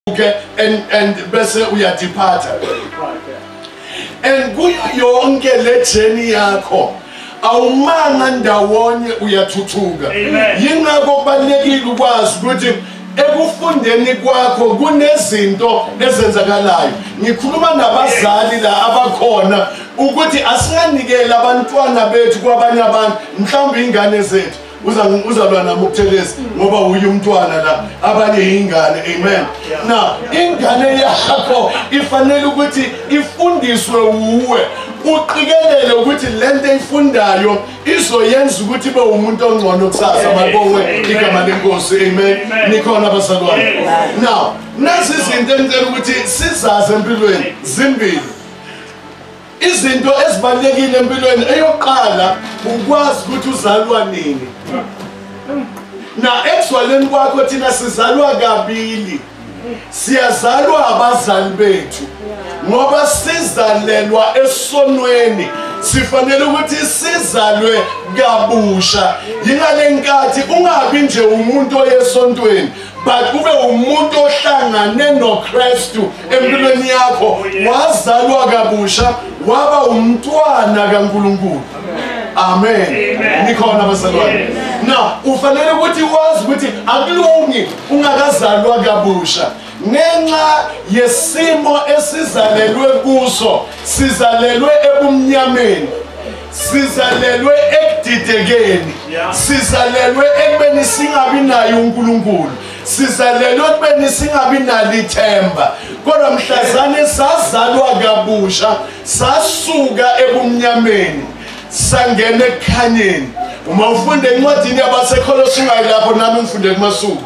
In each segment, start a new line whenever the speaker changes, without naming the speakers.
uke and and bese uyadiphatha and kuyo yonke le journey yakho awumanga ndawonye uyathuthuka yingakho kubalekile ukwazi ukuthi ekufundeni kwakho kunezinto ezenzakalayo ngikhuluma nabazali la abakhona ukuthi asinganikeli abantwana bethu kwabanye abantu mhlawumbe ingane zethu uzalwa nami ukuthelezi ngoba uye umntwana la abanye yingane amen na ingane yakho ifanele ukuthi ifundiswe wuwe uqikelele ukuthi le nto eyifundayo izoyenza ukuthi ibe umuntu ongcono kusasa mabowe igama lenkosi amen nikhona abazalwane now nazi izinto engicela ukuthi sizazi empilweni zimbili izinto ezibalulekile empilweni eyokuqala ukwazi ukuthi uzalwa nini na ekuzwaleni kwakho thina sizalwa kabili siyazalwa abazali bethu ngoba sizalelwa esonweni sifanele ukuthi sizalwe kabusha yingale nkathi ungabi nje umuntu oyesontweni but ube umuntu ohlangane noKristu empilweni yakho wazalwa kabusha waba umntwana kaNkuluNkulu amen nikhona bazalwane na ufanele ukuthi wazi ukuthi akulungi ungakazalwa kabusha ngenxa yesimo esizalelwe kuso sizalelwe ebumnyameni sizalelwe ekudidekeni sizalelwe ekubeni singabi naye unkulunkulu sizalelwe ekubeni singabi nalo ithemba kodwa mhlazane sazalwa kabusha sasuka ebumnyameni sangena ekukhanyeni uma ufunde encwadini yabasekholosi ungayilapho nami ngifunde kumasuku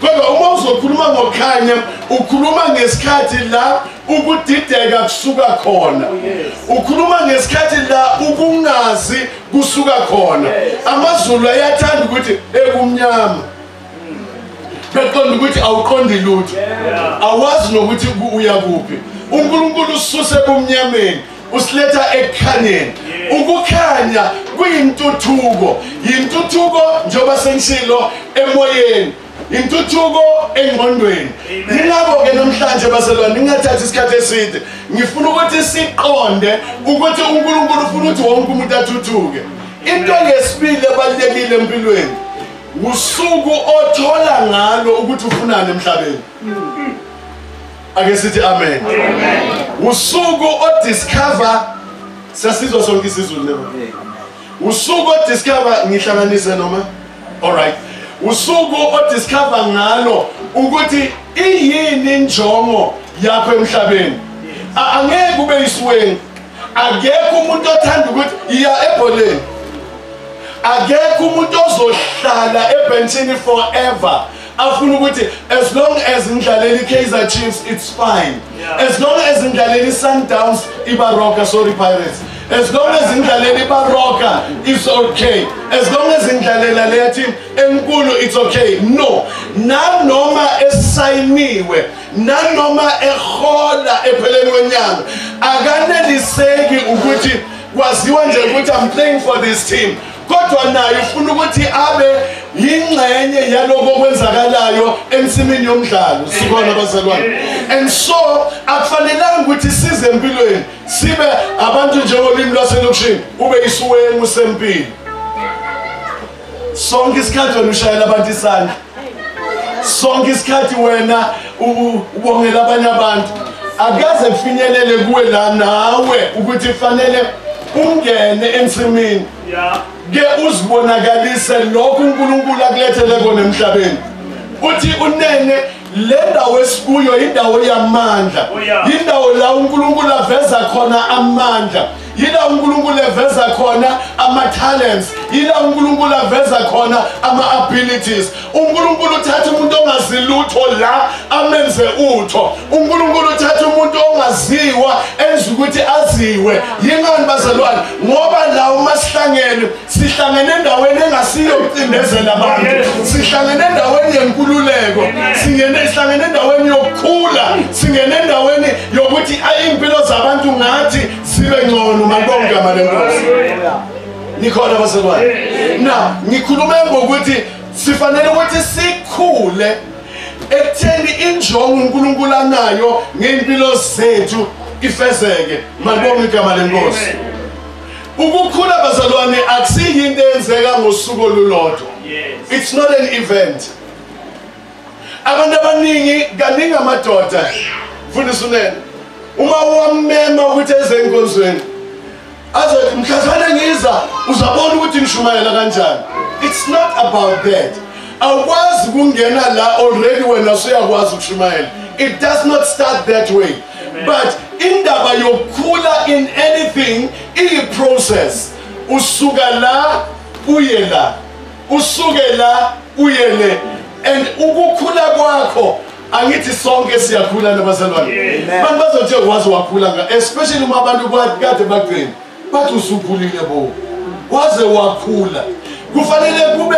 kodwa uma uzokhuluma ngokukhanya ukhuluma ngesikhathi la ukudideka kusuka khona oh, ukhuluma ngesikhathi la ukungazi kusuka khona amazulu ayathanda ukuthi ekumnyama beqonda ukuthi awuqondi lutho awazi nokuthi uya kuphi unkulunkulu ususe ebumnyameni usiletha ekukhanyeni ukukhanya kuyintuthuko yintuthuko njengoba sengishilo emoyeni intuthuko engqondweni ningabo-ke namhlanje baselwane ningathathi isikhathi eside ngifuna ukuthi siqonde ukuthi unkulunkulu ufuna ukuthi wonke umuntu athuthuke into ngesibili ebalulekile empilweni usuku othola ngalo ukuthi ufunani emhlabeni ake sithi amen usuku odiscover sasizwa sonke isizulu lelo usuku odiscover ngihlanganise noma alright usuku odiscover ngalo ukuthi iyini injongo yakho emhlabeni angeke ube yisweni akekho umuntu othanda ukuthi iya ebholeni akekho umuntu ozohlala ebhentshini forever afuna ukuthi as long as ngidlaleli Kaizer Chiefs it's fine yeah. as long as ngidlaleli Sundowns ibaroka sorry Pirates as long as ngidlalela ibaroka it's okay as long as ngidlalela leya team enkulu it's okay no nanoma esayiniwe nanoma ehola epheleni kwenyanga akaneliseki ukuthi kwaziwa nje ukuthi i'm playing for this team kodwa naye ufuna ukuthi abe yingxenye yaloko okwenzakalayo ensimini yomdlalo sikona bazalwane and so akufanelanga ukuthi size empilweni sibe abantu njengolimi lwaselokishini ube isuwengu sempilo sonke isikhathi wena ushayela abantu isandla sonke isikhathi wena ubongela abanye abantu akaze kufinyelele kuwe la nawe ukuthi kufanele ungene ensimini ke uzibonakalise lokhu unkulunkulu akulethele kona emhlabeni uthi unene le ndawo esikuyo yindawo yamandla oh, yindawo la unkulunkulu aveza khona amandla yila unkulunkulu eveza khona ama-talents yila unkulunkulu aveza khona ama-abilities unkulunkulu uthatha umuntu ongazi lutho la amenze utho unkulunkulu uthatha umuntu ongaziwa enza ukuthi aziwe yingani bazalwane ngoba la uma sihlangene sihlangene endaweni engasiyo ukucindezela abantu sihlangene endaweni yenkululeko singene sihlangene endaweni yokukhula singene endaweni yokuthi ayimpilo zabantu ngathi sibe ngcono malibonga igama lenkosi nikhona baselwane na ngikhulume ngokuthi sifanele ukuthi sikhule ekutheni injongo unkulunkulu anayo ngey'mpilo zethu ifezeke malibonga igama lenkosi Ukukhula bazalwane akusiyi into eyenzeka ngosuku olulodwa. It's not an event. Abantu abaningi kaningi amadoda fundisa unene uma wamema ukuthi eze enkonzweni azothi mhlazane ngiza uzabona ukuthi ngishumayela kanjani. It's not about that. Awukwazi kungena la already wena usuyakwazi ukushumayela. It does not start that way. but indaba yokukhula in anything iyi-process usuka la uye la usuke la uye le and ukukhula kwakho angithi sonke siyakhula nabazalwane abantu bazothi waze wakhula especially uma abantu kade bagcina bathi usukhulile bo waze wakhula kufanele kube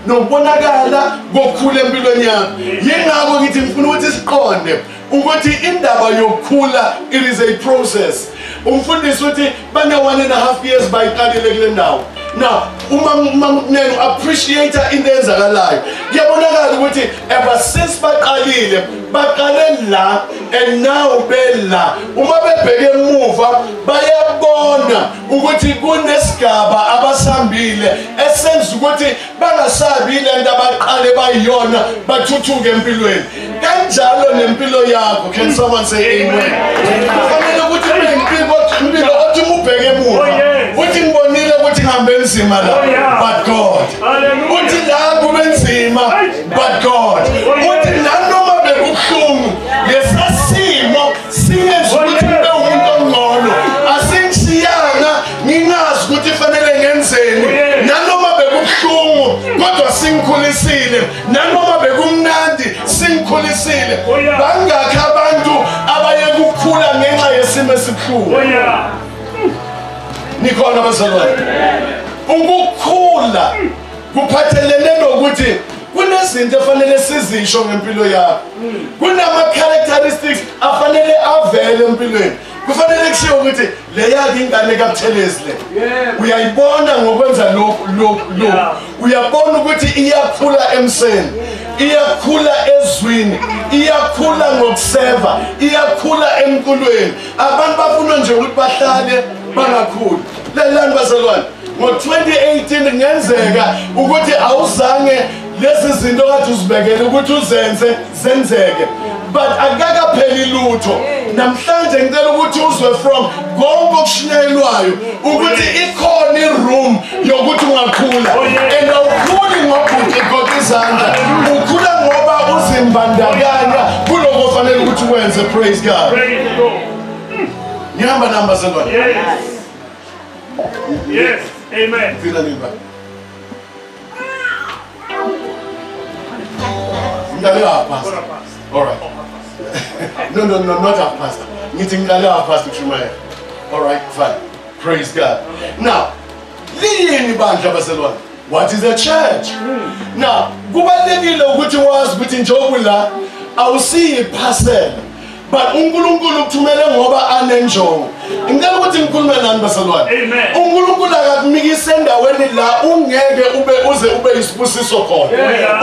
nokubonakala kokukhula empilweni yakho yingakho ngithi ngifuna ukuthi siqonde ukuthi indaba yokukhula it is a process umfundisi uthi bane-one and a half years bayiqalile kule ndawo now umamnenu appreciate into eyenzakalayo kuyabonakala ukuthi ever since baqalile baqale la and now bela uma bebheke emuva bayabona ukuthi kunesigaba abasambile esenza ukuthi bangasabi le nto abaqale bayiyona bathuthuke empilweni kanjalo nempilo yakho can someone say amen kufanele ukuthi impilo othi ubheke emuva oh, uthi ngibonile ukuthi ngihambe enzima la oh, but god uthi la kube nzima but god uthi nanoma bekubuhlungu lesasimo singenza ukuthi kube umuntu ongcono asingishiyanga nginazi ukuthi fanele ngenzeni nanoma bekubuhlungu kodwa singikhulisile nanoma bekumnandi singikhulisile bangakhi abantu abaye kukhula ngenxa yesimo esibuhlungu nikhona bazalwane ukukhula kuphathelene nokuthi kunezinto efanele sizisho ngempilo yakho kunama-characteristics afanele avele empilweni kufanele kushiwo ukuthi le yakhe ingane kabuthelezi le uyayibona ngokwenza lokhu lokhu lokhu uyabona ukuthi iyakhula emseni iyakhula ezwini iyakhula ngokuseva iyakhula emculweni abantu bafuna nje ukuthi bahlale bangakhuli lelani bazalwane ngo-2018 kungenzeka ukuthi awuzange lezi zinto kade uzibekele ukuthi uzenze zenzeke but akakapheli lutho namhlanje ngicela ukuthi uzwe from konke okushinyelwayo ukuthi ikhona iroom yokuthi ungakhula oh, and awukhuli ngobhuti goda izandla ukhula ngoba uzimbandakanya kuloko ofanele ukuthi wenze praise god ngihamba nambazalwane
Yes, amen. Fika nini baba?
Ngidale half past. All right. No, no, no, not half past. Ngithi ngidale half past ukushumayela. All right, fine. Praise God. Now, liyini bandla baselwane? What is a church? Hmm. Now, kubalekile ukuthi wazi ukuthi njengoba la awusiyi parcel but uNkulunkulu ukuthumele ngoba anenjongo ngicela ukuthi ngikhulume nani basalwane uNkulunkulu akakumikise endaweni la ungeke ube uze ube isibusiso khona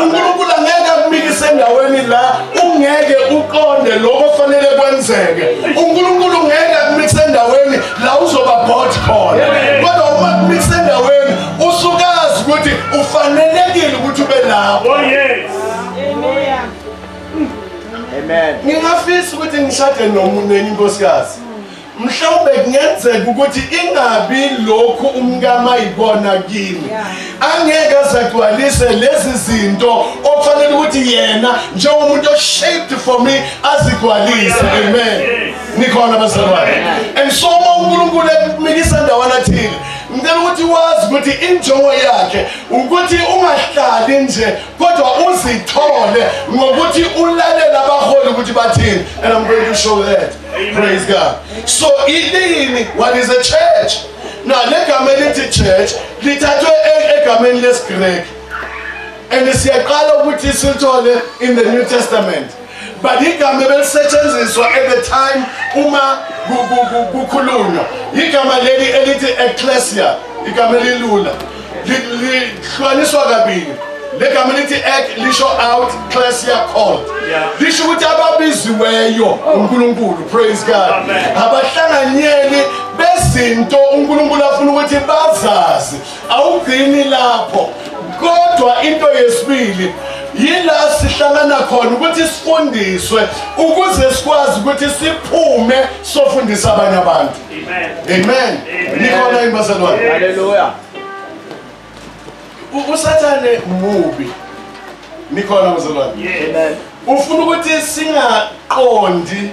uNkulunkulu angeke akumikise endaweni la ungeke uqonde lokho fanele kwenzeke uNkulunkulu ngeke akumikise endaweni la uzoba bored khona kodwa uma kumikise endaweni usukazi ukuthi ufanelekile ukuthi ube lapho
oh yes
Amen. Ngingafisa ukuthi
ngishade nomuntu nenye inkosikazi. mhlawumbe kungenzeka ukuthi ingabi lokhu umkama ayibona kimi angeke azagcwalise lezi zinto okufanele ukuthi yena njengomuntu oshaped for me azigcwalise amen nikhona bazalwane and so uma unkulunkulu ekumikisa ndawana thile ngicela ukuthi wazi ukuthi injongo yakhe ukuthi ungahlali nje kodwa uzithole ngokuthi ulalele abaholi ukuthi bathini and i'm going to show that praise god so ilini what is a church na legama elithi church lithathwe e-, egameni lesigreki and siyaqala ukuthi silithole in the new testament but igama ebelisetshenziswa at the time uma kukhulunywa igama leli elithi ecclesia igama elilula lihlukaniswa kabili legama elithi ek lisho out clesia called lisho ukuthi ababiziweyo oh. unkulunkulu praise god abahlanganyeli bezinto unkulunkulu afuna ukuthi bazazi awugcini lapho kodwa into yesibili yila sihlangana khona ukuthi sifundiswe ukuze sikwazi ukuthi siphume sofundisa abanye abantu amen nikhona yini bazalwane haleluya usathane mubi nikhona bazalwane amen
ufuna ukuthi
singaqondi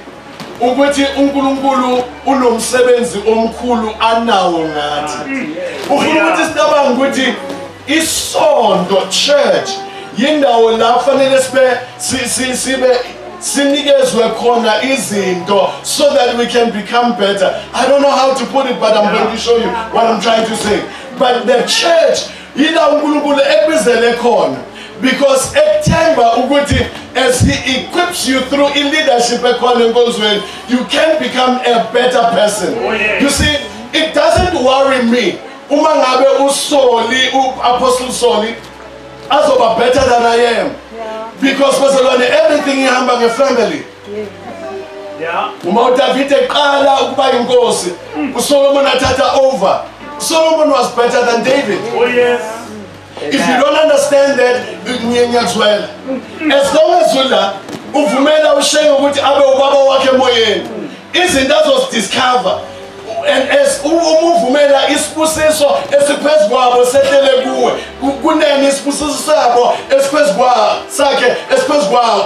ukuthi uNkulunkulu unomsebenzi omkhulu anawo ngathi ufuna ukuthi sicabanga ukuthi isonto church yindawo la kufanele sibe sibe sinikezwe khona izinto so that we can become better i don't know how to put it but i'm going to show you what i'm trying to say but the church yila uNkulunkulu ekubizele khona because ekuthemba ukuthi as he equips you through in leadership ekhona enkonzweni you can become a better person oh, yeah. you see it doesn't worry me uma ngabe usoli uapostle soli azoba better than i am yeah. because bazalwane everything ihamba ngefamily uma udavide eqala ukuba yinkosi usolomon athatha over solomon was better than david oh, yes.
if you
don't understand that ngiyakuzwela as long as ula uvumela ushenge ukuthi abe ubaba wakhe emoyeni izinto azozidiscover and as umuvumela isibusiso esiphezu kwabo sehlele kuwe kunene isibusiso sabo esiphezu kwabo sakhe esiphezu kwabo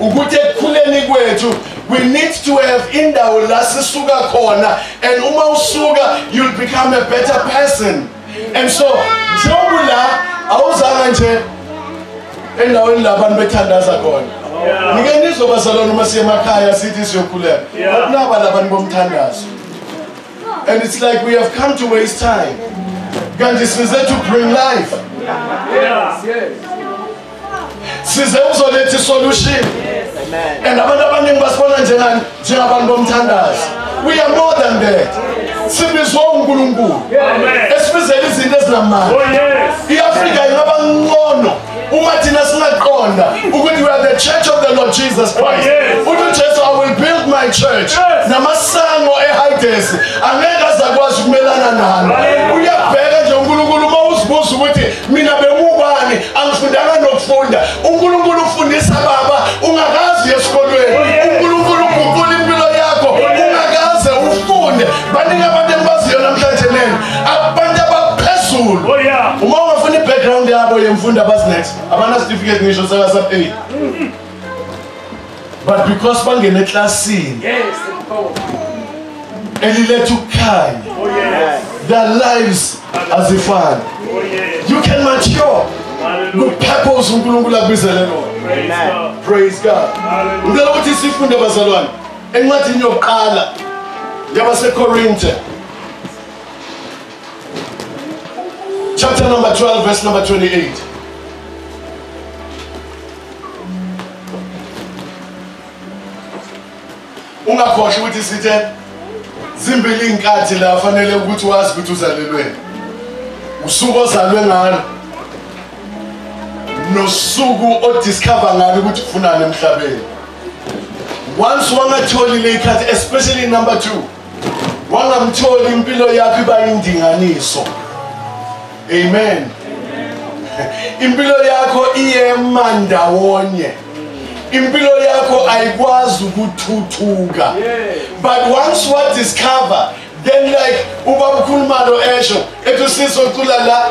ukuthi ekukhuleni kwethu we need to have indawo la sisuka khona and uma usuka you'll become a better person and so njengoba la awuzanga nje endaweni la abantu bethandaza khona ngike nizobazalwana uma siye emakhaya sithi siyokhuleka bakunaba labantu bomthandazo and it's like we have come to waste time kanti size to bring life yes, yes. size ukuzoletha isolution and abantu abaningi basibona njengani njengabantu bomthandazo we are more than that sibizwa unkulunkulu esibizela izinto ezinamandla oh, i-afrika ingaba ncono uma thina singaqonda ukuthi we are the church of the lord jesus christ oh, uthi ujesu i will build my church namasango ehayidesi angeke azakwazi ukumelana nalo uyabheka nje unkulunkulu uma uzibuza ukuthi mina bengubani angifundanga nokufunda unkulunkulu ufundisa baba ungakazi uye esikolweni unkulunkulu uguqula impilo yakho ungakaze ufunde baningi abantu engibaziyo namhlanje nena abantu abaphezulu oh, uma ungafuna i-background yabo yemfundo abazinex abanasitifiketi ngisho saka-sub eight but because bangena eklasini eliletha ukukhanya oh, their lives azifani oh, you can mature kupurpose unkulunkulu akubizele lona praise god ngicela ukuthi sifunde bazalwane encwadini yokuqala yabasekorinte Chapter number 12, verse number 28. ungakhohlwa ukuthi sithe zimbili iy'nkathi la fanele ukuthi wazi ukuthi uzalelweni usuku ozalwe ngalo nosuku odiscover ngalo ukuthi ufunani emhlabeni once wangatholile ikhathi especially number two wangamtholi impilo yakho iba indinganiso amen impilo yakho iyema ndawonye impilo yakho ayikwazi ukuthuthuka but once what discover then like uba ukhuluma lo esho ethi usisi ocula la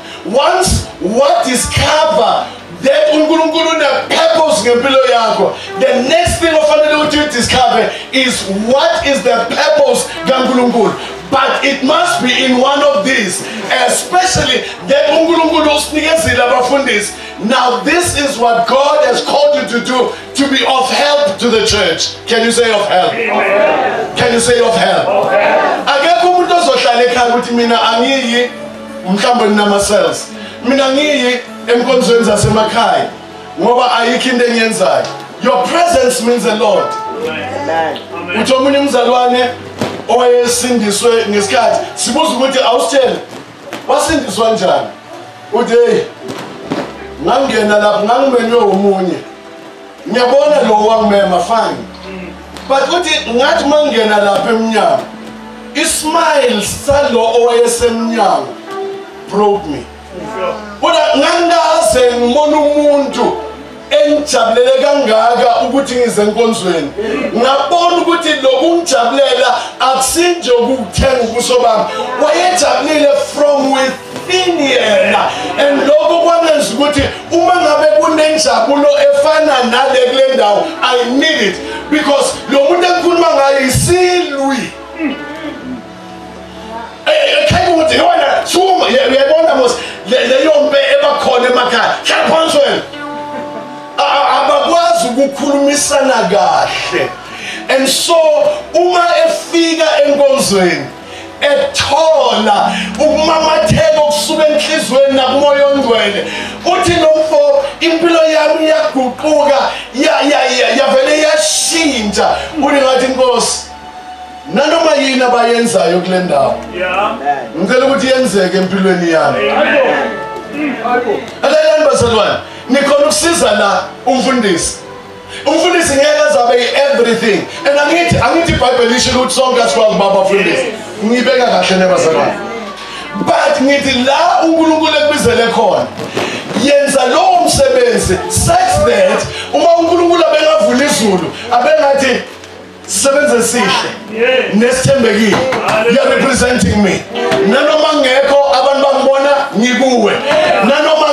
Once what discover that uNkulunkulu unepurpose ngempilo yakho the next thing ofanele ukuthi you discover is what is the purpose kaNkulunkulu but it must be in one of these especially that uNkulunkulu usinikezile abafundisi now this is what God has called you to do to be of help to the church can you say of help Amen. can you say of help akekho umuntu ozohlala ekhaya ukuthi mina angiyi mhlawumbe ninama-cells mina ngiyi enkonzweni zasemakhaya ngoba ayikho into engiyenzayo your presence means a lot uthi omunye umzalwane owayesindiswe ngesikhathi sibuza ukuthi awusitshele wasindiswa njani uthi heyi ngangingena lapho ngangimenywe omunye ngiyabona lo wangimema fine but uthi ngathi uma ngingena lapha emnyango ismile salo owayesemnyango broke me kodwa ngangikaze ngibona umuntu engijabulele kangaka ukuthi ngize enkonzweni ngabona ukuthi lokungijabulela akusinje ukuthenga ubuso bami wayejabulile from with ini yena and lokho kwangenza ukuthi uma ngabe kunenjabulo efana nale kule ndawo i need it because lo muntu engikhuluma ngayo isilwi ekhayimuthi eh, eh, yona suma uyayibona mos leyo mpe ebakhona emakhaya hlala phansi wena abakwazi ukukhulumisana kahle and so uma efika enkonzweni ethola ukumamatheka okusuka enhlizweni nakumoya ongcwele uthi nomfo impilo yami iyaguquka yavele yashintsha uli ngathi inkosi nanoma yini abayenzayo kule ndawo ngicela ukuthi yenzeke empilweni yami alalani bazalwane nikhona ukusiza la umfundisi umfundisi ngeke azabe i-everything and angithi angithi ibhayibheli isho ukuthi sonke asikwazi uba abafundisi ngiyibeka kahle nebazalwane but ngithi la unkulunkulu ekubizele khona yenza lowo msebenzi such that uma unkulunkulu abengavula izulu abengathi sisebenze sihle nesithembekile you are representing me nanoma ngekho abantu bangibona ngikuwe nanoma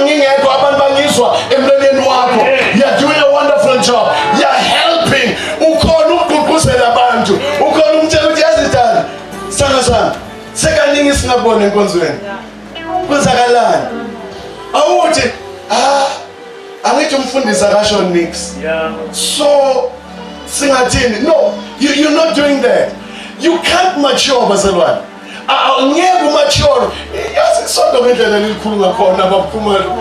ngingekho abantu bangizwa emlonyeni wakho you are doing a wonderful job you are helping ukhona ukugqugquzela abantu ukhona umtshela ukuthi yazidala sithando sami sekaningi singabona enkonzweni kwenzakalani awuthi ah angithi umfundisi akasho nix so singathini no you, you're not doing that you can't mature bazalwane awungeke umature yazi isonto ngendlela elikhulu ngakhona baphumelo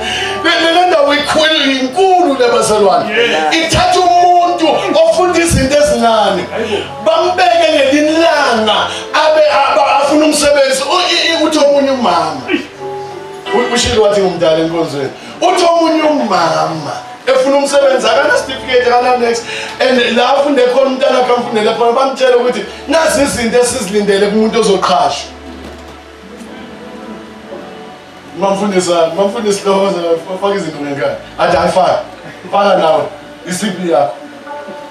le ndawo ikhulu inkulu labazalwane ithatha umuntu ofunda izinto ezincane bambeke ngelinilanga abe afuna umsebenzi uthi omunye umama ushilo wathi ngumdala enkonzweni uthi omunye umama efuna umsebenzi akanasitifiketi akananex and la afunde khona umntana akhe amfundele khona bamtshele ukuthi nazi izinto esizilindele kumuntu ozoqhashwa mamfundisa mamfundisi lowo ofaka izinto ngenkani athi ayifaka faka nawe isiphi yakho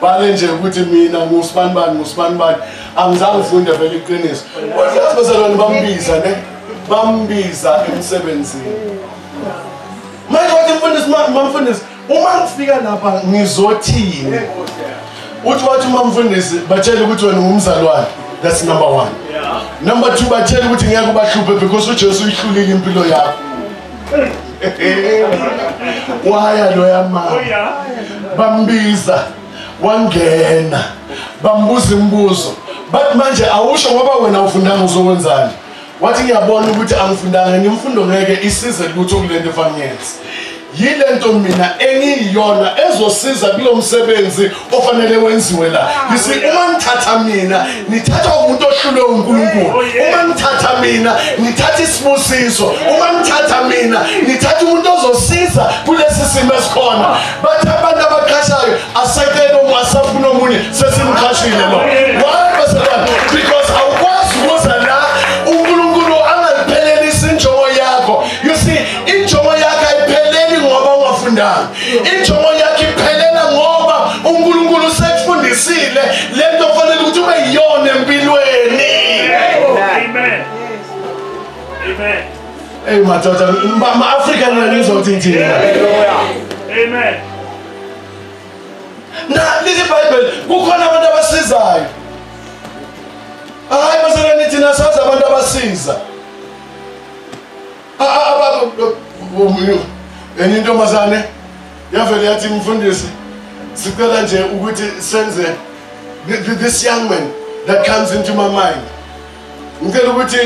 bale nje ukuthi mina ngusibani bani ngusibani bani angizange ufunde vele iqiniso kodwa yazi bezalwane bambiza ne bambiza emsebenzini manje wathi mfundisi mamfundisi uma ngifika lapha ngizothini uthi wathi umamfundisi batshele ukuthi wena ungumzalwane that's number one number two batshele ukuthi ngeke ubahluphe because ujesu uyihlulile impilo yakho waya loya mama oh, bambiza wangena bambuza imibuzo but manje awusho ngoba wena ufundanga uzokwenzani wathi ngiyabona ukuthi angifundanga ngimfundo ngeke isize lutho kulento efangenzi yile nto mina engiyiyona ezosiza kulo msebenzi ofanele wenziwe la yisi uma ngithatha mina ngithatha umuntu ohlulwe unkulunkulu oh, uma ngithatha mina ngithatha isibusiso uma ngithatha mina ngithatha umuntu ozosiza kulesi simo esikhona bathi abantu abaqashayo asekele omunye asafuna omunye sesimqashile lo why basalwane because awukwazi ukuza la unkulunkulu angaliphelelisi injongo yakho you see injongo yakho ayipheleli ngoba ungafundanga injongo yakho iphelela ngoba unkulunkulu usekufundisile le nto fanele ukuthi ube yiyona empilweni Amen. Amen. Hey madoda, ma Africa nina nizwa ukuthi ngithini. Amen. Na lithi Bible kukhona abantu abasizayo. Hayi masana nithi nasazi abantu abasiza. Ah ah baba umuntu enye intombazane yavele yathi mfundisi sicela nje ukuthi senze this young man that comes into my mind ngicela ukuthi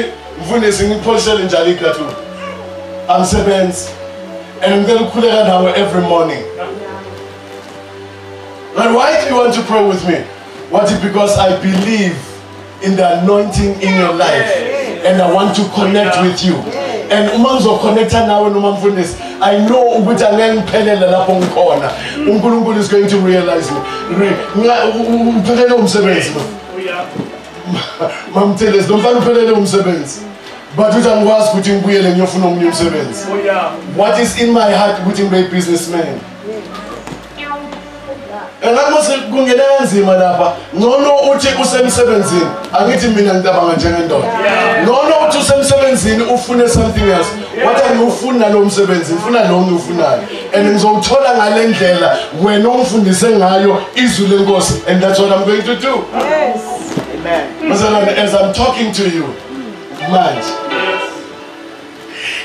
mfundisi ngipholisele njalo igratu angisebenzi and ngicela ukukhuleka nawe every morning but why do you want to pray with me what is because i believe in the anointing in your life and i want to connect with you and uma ngizoconnecta nawe noma mfundisi i know ukuthi angeke ngiphelele lapho ngikhona unkulunkulu is going to realize me ngiphelele umsebenzi lo mamthelezi lomfana uphelele umsebenzi but uthi angikwazi ukuthi ngibuyele ngiyofuna omunye umsebenzi oh, what is in my heart ukuthi ngibe i-businessman engathi mose kungena kanzima lapha ngcono uthi usemsebenzini angithi mina ngicabanga njengendoda ngcono uthi usemsebenzini ufune something else wathi angiwufuni nalowo msebenzi ngifuna lo ngiwufunayo and ngizowuthola ngale ndlela wena ongifundise ngayo izwi lenkosi and that's what i'm going to do yes amen bazalwane as i'm talking to you manje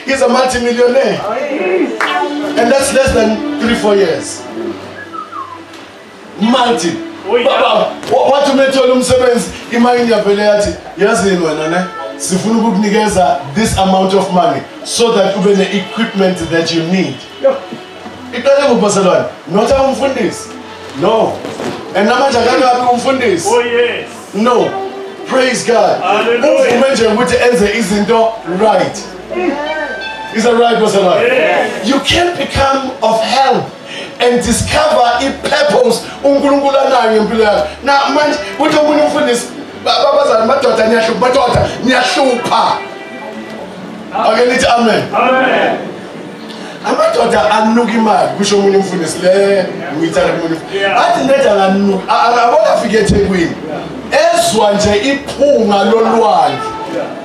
he's a multimillionaire oh, and that's less than 3 4 years Mati, baba, wathi uma ethola umsebenzi, imayini yavele yathi, yazi yini wena ne? Sifuna ukukunikeza this amount of money so that ube ne-equipment that you need. Iqale ngubhaselwane, not abumfundisi. No. And namanje akakabi umfundisi. Oh yes. No. Praise God. Hallelujah. Uvume nje ukuthi enze izinto right. Is that right, Bhaselwane? Yes. You can't become of help. and discover i-purpose unkulunkulu anayo ngempilo yakho na manje kuthi omunye umfundisi babazana madoda niyahlupha madoda niyahlupha ake nithi amen amadoda anuka imali kusho omunye umfundisi le ngiyithanda kumunye athi ndeda nganuka akabona afike ethekwini ezwa nje iphunga lolwandle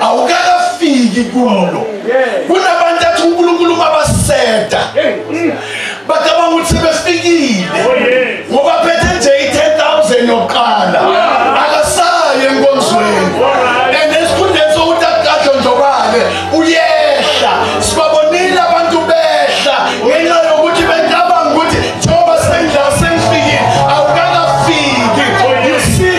awukakafiki kulo kunabantu athi unkulunkulu mabaseda bacabanga ukuthi sebefikile oh, ngoba phethe nje i-10,000 yokuqala akasayo enkonzweni and esikhundleni sokuthi akukadlondlobale uyehla sibabonile abantu behla ngenxa yokuthi becabanga ukuthi njengoba sengidla sengifikile awukakafiki you see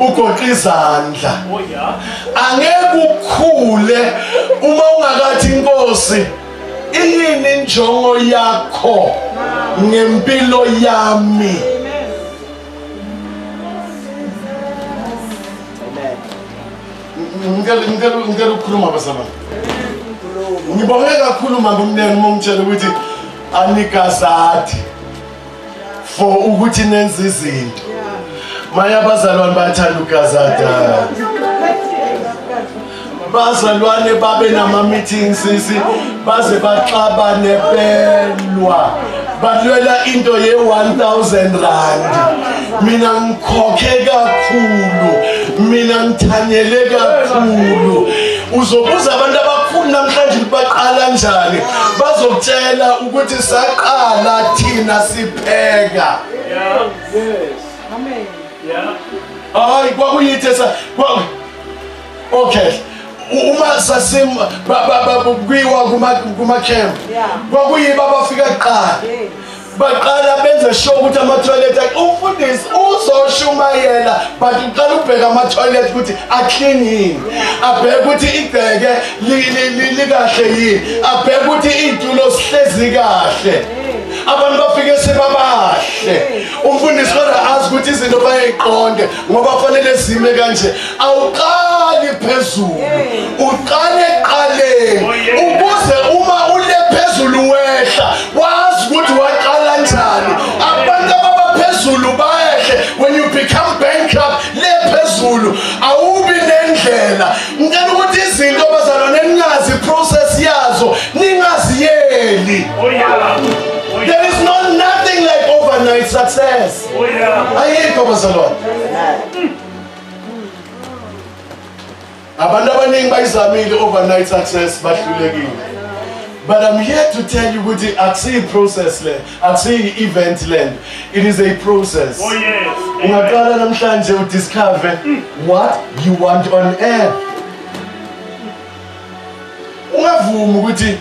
ugoqa izandla angeke ukhule uma ungakathi inkosi iyini injongo yakho ngempilo yami ngicela ukukhuluma basaba ngibonge kakhulu mama umnene uma ungitshela ukuthi anikazathi for ukuthi nenze izinto maya abazalwane bayathanda ukugazada bazalwane babe nama-meeting sisi baze baxabane belwa balwela into ye-1000 rand mina ngikhokhe kakhulu mina ngithanyele kakhulu uzobuza abantu abakhulu namhlanje ukuthi baqala njani bazokutshela ukuthi saqala thina sipheka
yeah yes amen yeah hayi
kwakuyithe sa okay uma sasim bababukwiwa kuma kuma camp kwakuyiba bafika kuqala baqala benze sure ukuthi ama toilet umfundisi uzoshumayela but uqala ubheka ama toilet ukuthi a clean yini abheke ukuthi igceke likahle yini abheke ukuthi iy'tulo sihlezi kahle abantu bafike sebabahle umfundisi kodwa azi ukuthi izinto bayayiqonde ngoba kufanele zime kanje awuqali phezulu uqale eqaleni oh, ukuze uma ule phezulu wehla wazi ukuthi waqala njani abantu ababaphezulu bayehle when you become bankrupt le phezulu awubi nendlela ngicela ukuthi izinto bazalwane ningazi process yazo ningaziyeli oh, there is no nothing like overnight success oh, ayikho bazalwane abantu abaningi bayizamile overnight success bahlulekile but i'm here to tell you ukuthi akusiyi process le Akusiyi event lento. It is a process. Oh yes. Ungaqala namhlanje u discover what you want on air. Ungavumi ukuthi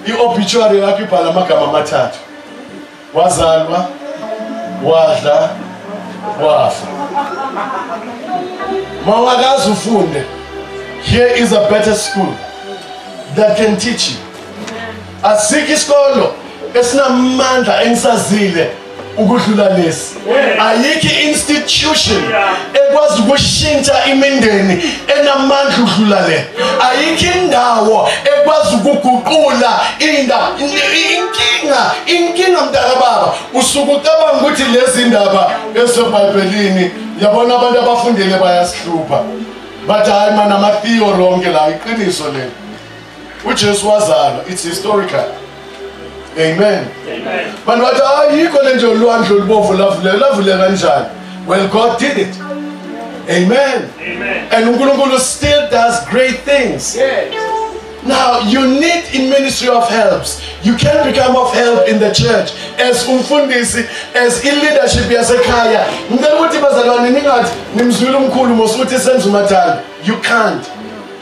i-obituary yakho ibhala amagama amathathu. Wazalwa, wadla, wafa. Mawakazi ufunde. Here is a better school that can teach you. Asikho isikolo esinamandla engisazile ukudlula lesi ayikho institution ekwazi ukushintsha imindeni enamandla ukudlula le ayikho indawo ekwazi ukuguqula inda inkinga inkinga mntaka baba usuke ucabanga ukuthi lezi ndaba ezebhayibhelini yabona abantu abafundele bayasihlupha bathi hayi mana ama-theo ronke la iqiniso leli uJesu wazalwa it's historical amen amen bantu bathi ayikho le nje ulwandle olubovu lavuleka lavuleka kanjani well god did it amen amen and uNkulunkulu still does great things yes Now you need a ministry of helps. You can become of help in the church as umfundisi, as in leadership yasekhaya. Ngicela ukuthi bazalwane ningathi nimzwile umkhulu mosuthi senza umathanda. You can't.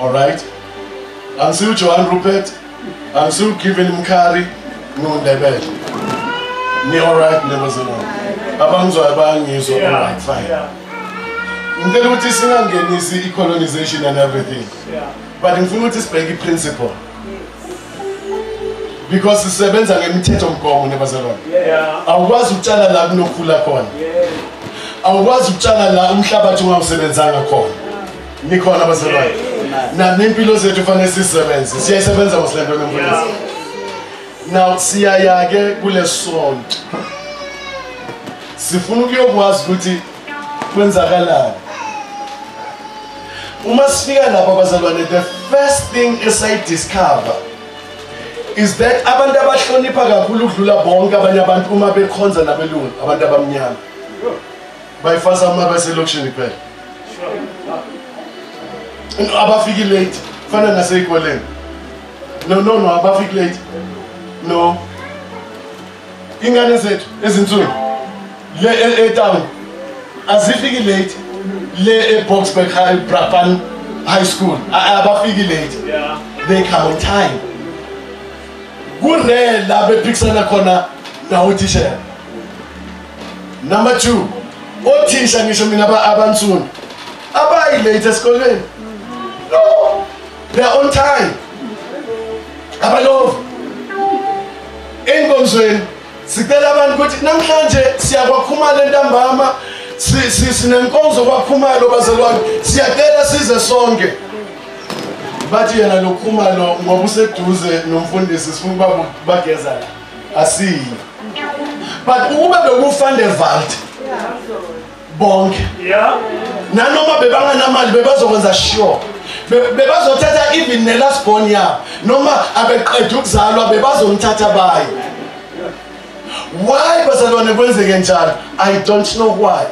All right. Angisiwu Johan Rupert, angisiwu Given Mkhari, ngiwuNdebele. Ni all right neba zenu. Abangizwayo bayangizwa all right fine. Ngicela ukuthi singangenisi i-colonization and everything. But ngifuna ukuthi sibheke i-principle. Because sisebenza ngemithetho mgomo nebazalwane. Awukwazi ukutshala la kunokhula khona. Awukwazi ukutshala la umhlabathi ungawusebenzanga khona. nikhona bazalwane nani impilo zethu kufanele sizisebenze siyayisebenza mos le nto nemfundisi now siyaya-ke kule sonto sifuna ukuyokwazi ukuthi kwenzakalani uma sifika lapho abazalwane the first thing esayidiscover is that abantu abahlonipha kakhulu ukudlula bonke abanye abantu uma bekhonza nabelungu abantu abamnyama bayifasa uma baselokishini kuphela abafiki late fana nasey'koleni no no no abafiki late no ingane zethu ezinsuku le e, etown azifiki late le eboxburg high brapan high school abafiki late they come
on time
kurela bephikisana khona nawuthishela number 2 othisha ngisho mina abansundu abayi late esikolweni no they are on time abalove enkonzweni sicela abantu ukuthi namhlanje siyakwakhumala entambama sinenkonzo kwakhumalo bazalwane siyacela size sonke bathi yena lokhumalo ngoba useduze nomfundisi sifuna ukuba bagezana asiyi but ukube bekufande valt bonke nanoma bebanganamali bebazokwenza sure bebazothatha even nelast born yabo noma abeqeda ukuzalwa bebazomthatha baye why bazalwane kwenzeke njalo i don't know why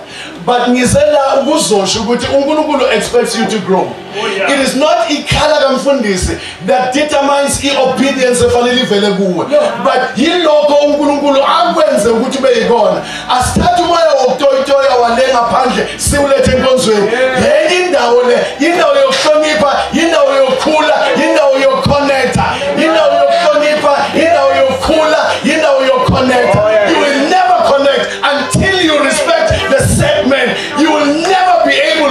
but ngize la ukuzosho ukuthi unkulunkulu expects you to grow Oh, It is not ikhala kamfundisi that determines i-obedience efanele ivele kuwe but yilokho unkulunkulu akwenze ukuthi ube yikona asithathe umoya wokutoyitoya wale ngaphandle siwulethe enkonzweni yenye indawo le yindawo yokuhlonipha yindawo yokukhula yindawo yokukhonetha yindawo yokuhlonipha yindawo yokukhula yindawo yokukhonetha oh, you will never connect until you respect the set man you will never be able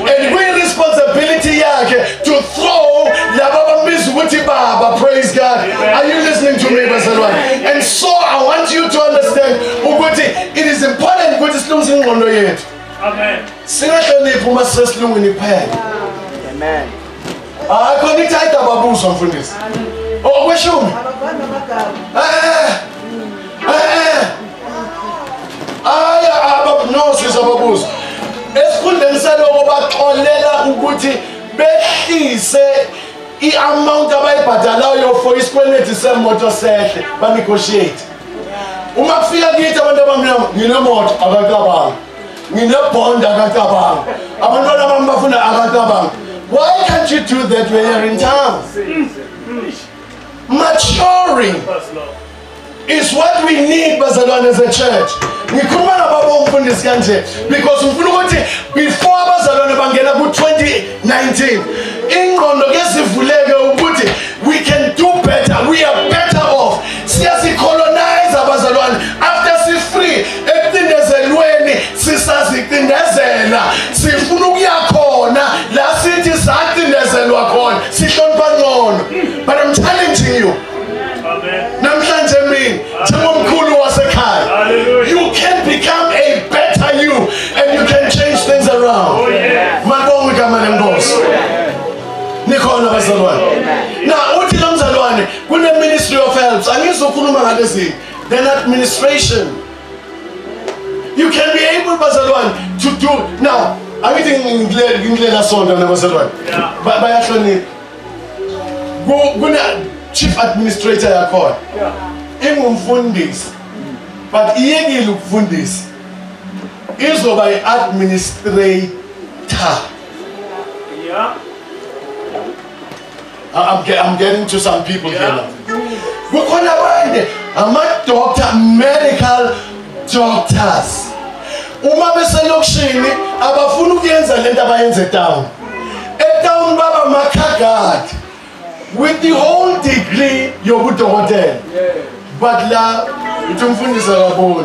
and we responsibility yakhe to throw laba bambiza ukuthi baba praise god are you listening to me bazalwane and so i want you to understand ukuthi it is important ukuthi silungise ingqondo yethu amen
singahloniphi
uma sisesilungwini kuphela amen
hayi
khona ithi ayidababuzwa mfundisi okweshumi hayi ababunozizwa babuzwa esikhundleni saloko baxolela ukuthi behlise i-amount abayibhadalayo for isikweleti semoto sehle banegotiate uma kufika kithi abantu abamnyama nginemoto abakabanga nginebond akacabanga abantwana bami bafuna akacabanga why can't you do that when you're in town maturing is what we need bazalwane as a church ngikhuluma nababa umfundisi kanje because ngifuna ukuthi before abazalwane bangena ku-2019 ingqondo kezivuleke ukuthi we can do better we are better off siyazikhona ekucindezelweni sisazicindezela sifuna ukuya khona la sithi sacindezelwa khona sihlonipha ngcono but i'm challenging you namhlanje mina njengomkhulu wasekhaya you can become a better you and you can change things around oh, malibonga igama lenkosi nikhona bazalwane na uthi lo mzalwane kune-ministry of helps angizokhuluma ngalezinto than administration. You can be able, bazalwane, to do. Now, angithi ngindlela sonto nabazalwane bayahlonipha kune-chief administrator yakhona ingumfundisi but iyekile ukufundisa izoba i-administrator I'm, get, I'm getting to some people yeah. here now. Kukhona abanye ama-doctor medical doctors uma beselokishini abafuni ukuyenza le nto abayenza etown etown baba makhagadi with the whole degree yobudokotela but la uthi umfundisi akaboni